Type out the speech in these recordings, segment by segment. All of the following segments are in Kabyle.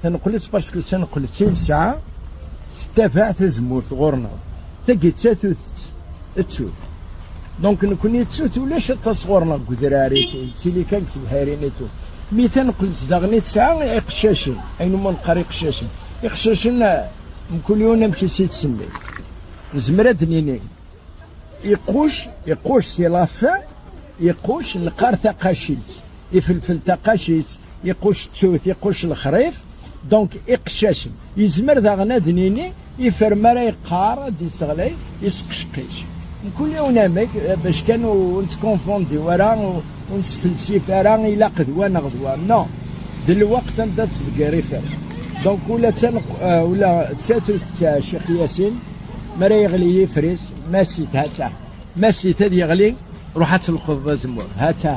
Taneqleţ parceque taneqleţ i nesɛa tettabaɛ tazemmurt ɣur-neɣ. Tagi d tatut-ţ, ţut. Donc nekkni ţut ulac aṭas ɣur-neɣ deg udrar, yeţili kan deg tebḥirin et tout. Mi taneqleţ daɣen i tesɛa iqcacen, ayen umi neqqar iqcacen. Iqcacen mkul yiwen amek i s-yeţsemmi. Nezmer ad d-nini iquc, iquc c'est la fin, iquc neqqar taqaciţ. Ifelfel taqacit, iquc ttut, iquc lexrif, donc iqcacen. Yezmer daɣen ad nini ifer mi ara yeqqar ad d-yettɣlay isqecqic. Mkul yiwen amek bac kan ur nettkonfondi ara ur nesfelsif ara ilaq d wa neɣ d wa. Non, d lweqt anda ttḍeggir ifer. Donc ula d tatut d Ccix Yasin mi ara yeɣli yifris, ma si tha-tah. Masit ad yeɣli, ruḥ ad telqeḍ azemmur. Hata,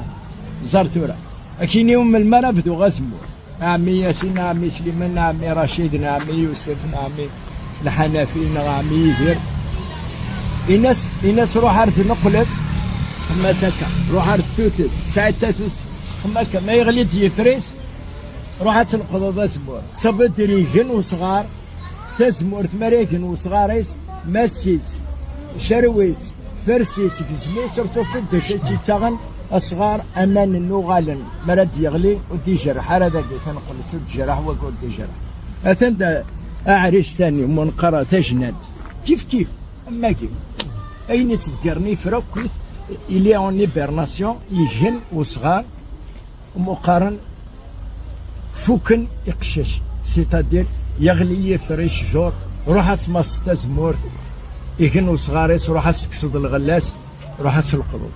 ẓer tura. Akini ur melmi ara bduɣ azemmur. Ɛemmi Yasin, ɛemmi Sliman, ɛemmi Racid, ɛemmi Yusef, ɛemmi Lḥanafi, neɣ ɛemmi Yidir. Ines, ines ruḥ ar tneqlet, xemmas akka, ruḥ ar tutut, sɛid tatut, xemma akka, ma yeɣli-d yifris, ruḥ ad telqeḍ azemmur. Tabed irigen usɣar, Tazemmurt mi ara igen wesɣar-is, mass-itt, cerrew-itt, fers-itt, gezm-itt, ur tufiḍ d acu i tt-yettaɣen, asɣar aman n uɣalen mi ara d-yeɣli ur d-ijreḥ ara dagi taneqleţ ur d-ijreḥ wagi ur d-ijreḥ. Atan d aɛric tani mi neqqar tajnant kifkif am wagi ayen iţeggren ifra akk-it, il est en hibernation, igen wesɣar. Muqaren fuken iqeccac sitadil yeɣli yifr i cjur ruḥ ad tmasseḍ tazemmurt igen usɣar-is ruḥ ad tekkseḍ lɣella-s ruḥ ad telqḍeḍ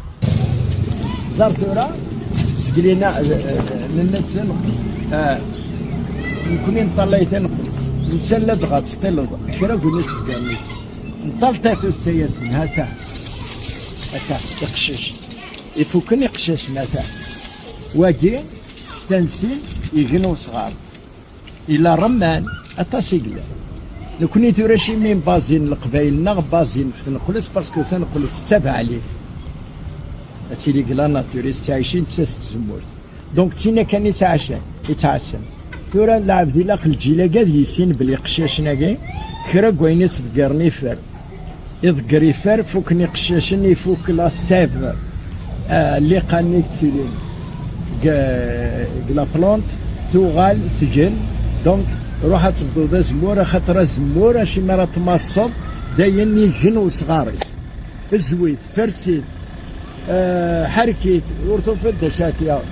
ẓer tura zglina nenna nekni neṭṭallay taneqlebt netta la dɣa teṭṭileḍ kra gun isebgan nṭal tatut-a-yasen hata hata iqeccac Ifuken iqcacen atan. Wagi stansin igen usɣar. Ila remman aṭas i yellan. Nekni tura cimi bazin leqbayel neɣ bazin ɣef tenqles pasku tanqles d tabeɛlit. Ad tili deg la nature i tettɛicin d tas tzemmurt. Donc d tin akan i ttɛacan, i ttɛassan. Tura lɛebd ilaq lǧil-agi ad yissin belli iqcacen-agi kra n wayen i tt-ḍeggren iffer. Iḍ grifar fukken iqcacen ifuk la sèv liqan-nni yettilin deg la plante tuɣal tgen donc ruḥ ad tebduḍ azemmur axaṭer azemmur acu mi ara tmasseḍ d ayen igen usɣar-is zwi-t fers-it ḥerrek-it ur tufiḍ d acu ara t-yaɣen.